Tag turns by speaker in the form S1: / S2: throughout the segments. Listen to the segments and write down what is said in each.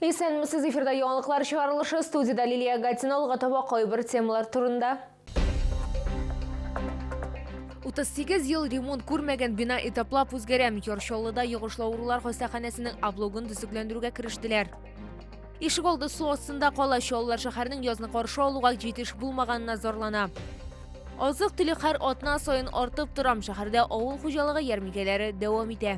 S1: Исәнмесез, эфирда яңалыклар чыгарылышы, студиядә Лилия Гатина, алга таба кайбер темалар турында. 38 ел ремонт күрмәгән бина этаплап үзгәрә. Ярчаллыда йогышлы авырулар хастаханәсенең облогын төзекләндерүгә керештеләр. Ишек алды су астында кала, чаллылар шәһәрнең язны каршы алуга җитеш булмаганына зарлана. Азык-төлек һәр атна саен артып тора. Шәһәрдә авыл хуҗалыгы ярминкәләре дәвам итә.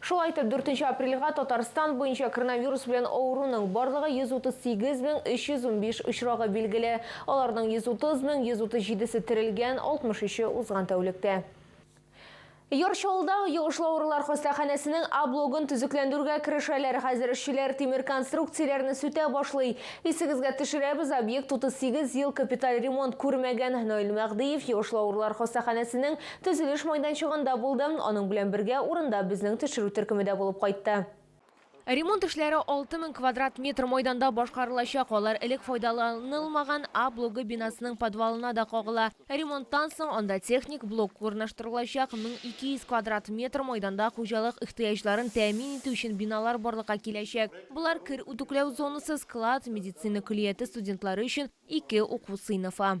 S1: Шулай итеп, дүртенче апрельгә Татарстан буенча коронавирус белән авыруның барлыгы 138 мең 315 очрагы билгеле. Аларның 130 мең 137 се терелгән, 63 е узган тәүлектә. Яр Чаллыда йогышлы авырулар хастаханәсенең А блогын төзекләндерүгә керешәләр. Хәзер эшчеләр тимер конструкцияләрне сүтә башлый. Исегезгә төшерәбез, объект 38 ел капиталь ремонт күрмәгән. Наил Мәгъдиев йогышлы авырулар хастаханәсенең Төзелеш майданчыгында булды, аның белән бергә урында безнең төшерү төркеме дә булып кайтты. Ремонт эшләре 6 мең квадрат метр майданда башкарылачак, алар элек файдаланылмаган А блогы бинасының подвалына да кагыла. Ремонттан соң анда техник блок урнаштырылачак, 1200 квадрат метр майданда хуҗалык ихтыяҗларын тәэмин итү өчен биналар барлыкка киләчәк. Болар, кер үтүкләү зонасы, склад, медицина көллияте студентлары өчен ике уку сыйныфы.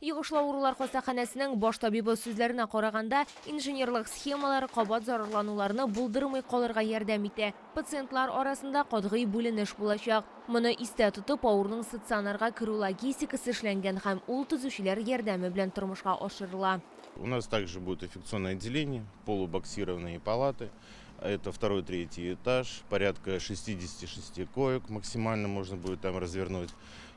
S1: Йогышлы авырулар хастаханәсенең баш табибы сүзләренә караганда, инженерлык схемалар кабат зарарлануларны булдырмый калырга ярдәм итә. Пациентлар арасында катгый бүленеш булачак. Моны истә тотып, авыруның стационарга керү логистикасы эшләнгән һәм ул төзүчеләр ярдәме белән тормышка ашырыла. У нас также
S2: будет инфекционное отделение, полубоксированные палаты, это второй, третий этаж, порядка 66 коек максимально можно будет там развернуть.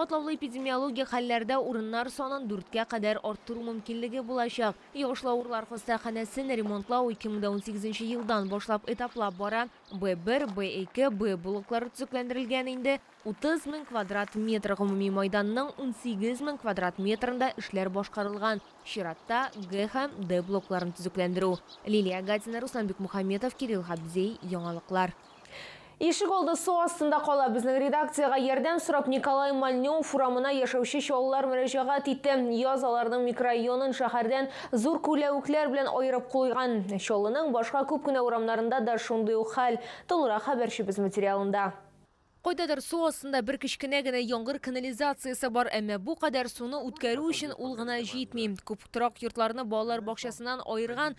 S1: Катлаулы эпидемиологик хәлләрдә урыннар санын дүрткә кадәр арттыру мөмкинлеге булачак. Йогышлы авырлар хастаханәсен ремонтлау 2018 елдан башлап этаплап бара. Б1, Б2, Б блоклары төзекләндерелгән инде. 30 мең квадрат метр гомуми майданның 18 мең квадрат метрында эшләр башкарылган. Чиратта, Г һәм Д блокларын төзекләндерү. Лилия Гатина, Руслан Бикмухаметов, Кирилл Габдзей, Яңалыклар. Ишегалды су астында кала. Безнең редакциягә ярдәм сорап Николай Мальнев урамына яшәүче чаллылар мөрәҗәгать итте. Яз аларның микрорайонын шәһәрдән зур күләвекләр белән аерып куйган. Чаллының башка күп кенә урамнарында да шундый ук хәл. Тулырак хәбәрчебез материалында. Кайдадыр су астында бер кечкенә генә яңгыр канализациясе бар, әмма бу кадәр суны үткәрү өчен ул гына җитми. Күп торак йортларны балалар бакчасыннан аерган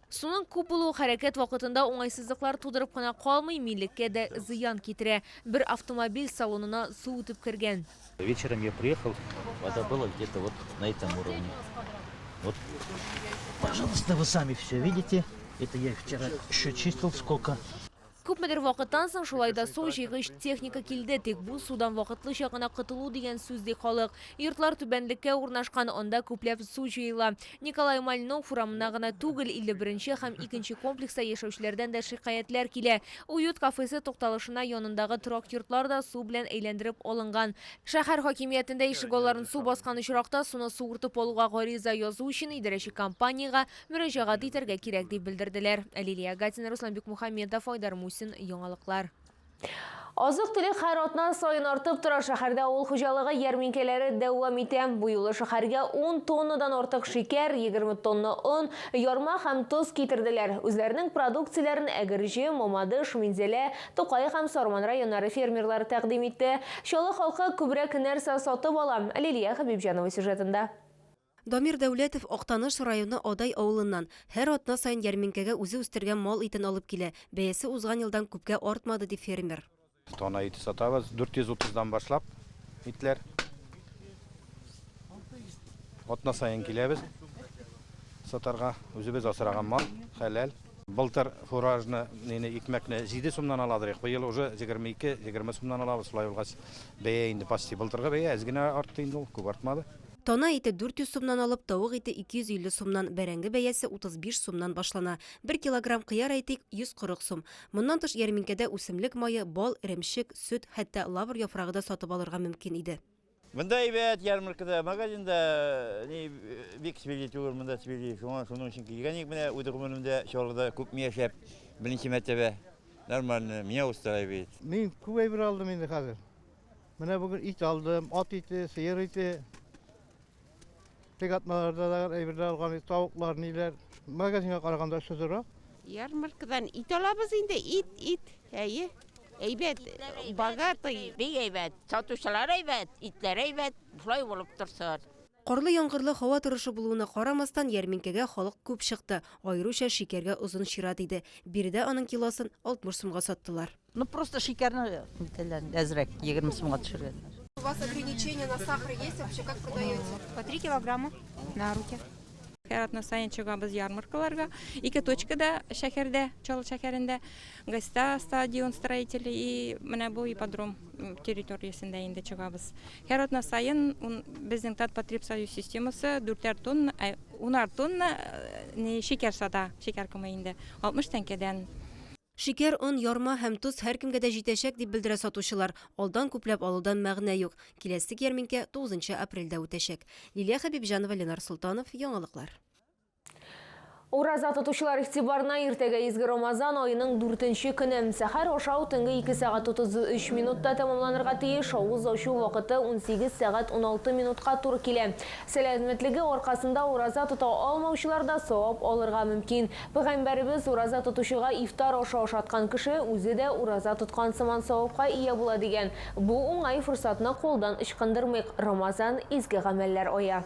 S3: Суның
S1: күп булуы хәрәкәт вакытында уңайсызлыклар тудырып кына калмый, милеккә дә зыян китерә. Бер автомобиль салонына су үтеп кергән. Вечером я приехал,
S4: вода была где-то вот на этом уровне. Вот, пожалуйста, вы сами все видите. Это я вчера еще чистил сколько. Күпмедер
S1: вакыттан соң шулай да су җыйгыч техника килде, тик бу судан вакытлыча гына котылу дигән сүз, ди халык. Йортлар түбәнлеккә урнашкан, анда күпләп су җыела. Николай Мальнов урамына гына түгел, 51 һәм икенче комплекста яшәүчеләрдән дә шикаятьләр килә. Уют кафесы тукталышына янындагы торак йортлар да су белән әйләндереп алынган. Шәһәр хакимиятендә ишегалларын су баскан очракта суны суыртып алуга гариза язу өчен идарәче компаниягә мөрәҗәгать итәргә кирәк, дип белдерделәр. Лилия Гатина, Руслан Бикмухаметов, Айдар Мусин, Яңалыклар. Азык-төлек һәр атна саен артып тора, шәһәрдә авыл хуҗалыгы ярминкәләре дәвам итә. Бу юлы шәһәргә ун тоннадан артык шикәр, егерме тонна он, ярма һәм тоз китерделәр. Үзләренең продукцияләрен Әгерҗе, Мамадыш, Минзәлә, Тукай һәм Сарман районнары фермерлары тәкъдим итте. Чаллы халкы күбрәк нәрсә сатып ала? Лилия Хәбибҗанова сюжетында. Дамир
S5: Дәүләтов Актаныш районы Адай авылыннан. Һәр атна саен ярминкәгә үзе үстергән мал итен алып килә. Бәясе узган елдан күпкә артмады, ди фермер. Тона ите
S6: сатабыз, 430 дан башлап итләр. Атна саен киләбез сатарга. Үзебез асраган мал, хәләл. Былтыр фуражны, нене, икмәкне 7 сумнан ала идек, быел уже 22-20 сумнан алабыз. Шулай булгач, бәя инде почти былтыргы бәя, әз генә артты инде ул, күп артмады. Тана ите 400
S5: сумнан алып, тавык ите 250 сумнан, бәрәңге бәясе 35 сумнан башлана. Бер килограмм кыяр, әйтик, 140 сум. Моннан тыш ярминкәдә үсемлек мае, бал, эремчек, сөт, хәтта лавр яфрагы да сатып алырга мөмкин иде. Монда әйбәт,
S4: ярмаркада, магазинда ни бик свежий түгел, монда свежий. Шуңа шуның өчен килгән идек менә үз гомеремдә Чаллыда күпме яшәп, беренче мәртәбә. Нормально, меня устраивает. Мин күп әйбер
S7: алдым инде хәзер. Менә бүген ит алдым, ат ите, сыер ите. Теге атналарда да әйберләр алган, тавыклар, ниләр. Магазинга караганда очыдырак. Ярмаркадан
S8: ит алабыз инде, ит, ит. Әйе. Әйбәт, богатый. Бик әйбәт, сатучылар әйбәт, итләр әйбәт, шулай булып торсын. Карлы-яңгырлы
S5: һава торышы булуына карамастан, ярминкәгә халык күп чыкты, аеруча шикәргә озын чират иде. Биредә аның килосын 60 сумга саттылар. Ну просто шикәрне
S9: нитәләр, әзрәк, егерме сумга төшергәннәр. У вас ограничение
S10: на сахар есть вообще, как продаете? По три килограмма
S11: на руки. Һәр атна саен чыгабыз ярмаркаларга. Ике точкада шәһәрдә, Чаллы шәһәрендә, Гайста стадион строители и менә бу ипподром территориясендә инде чыгабыз. Һәр атна саен безнең Татпотребсоюз системасы дүртәр тонна, ә унар тонна шикәр сата, шикәр комы инде, 60 тәңкәдән. Шикәр,
S5: он, ярма һәм тоз һәркемгә дә җитәчәк, дип белдерә сатучылар. Алдан күпләп алудан мәгънә юк. Киләсек ярминкә 9 нчы апрельдә үтәчәк. Лилия Хәбибҗанова, Ленар Солтанов, Яңалыклар.
S1: Ураза тотучылар игътибарына иртәгә изге Рамазан аеның дүртенче көне. Сәхәр ашау төнге ике сәгать 33 минутта тәмамланырга тиеш, авыз ачу вакыты унсигез сәгать уналты минутка туры килә. Сәламәтлеге аркасында ураза тота алмаучылар да савап алырга мөмкин. Пәйгамбәребез, Ураза тотучыга ифтар ашы ашаткан кеше үзе дә ураза тоткан сыман савапка ия була, дигән. Бу уңай форсатны кулдан ычкындырмыйк, Рамазан, изге гамәлләр ае.